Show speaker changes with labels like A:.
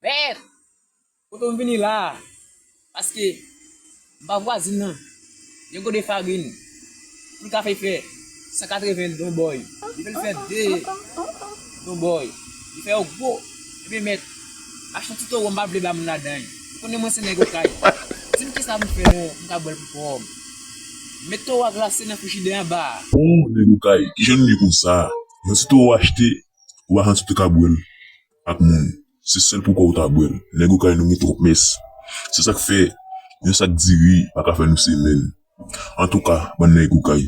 A: Beth! Kote w vini la a? Paske, m pa vwazin nan. Yon gode farin, poul kafe fè 180 don bòy. Li vle l fè 2 don bòy. Li fè yo gwo. Ebyen mèt, Machan ti toro m pa vle ba moun ladan y. Ou konnen mwen se nèg okay. Di m kisa m fè non, m ka bwè l pou kò m. Met toro a glase nan frijidè anba a. Ooh nèg okay,
B: kijan nou ye konsa? Yon ti toro achte, ou pa santi w te ka bwè l ak moun. Se sèl pou kò ou ta bwè l. Nèg okay nou gen twòp mès. Se sa k fè yon sak diri pa ka fè nou semèn. Antouka, bann nèg okay.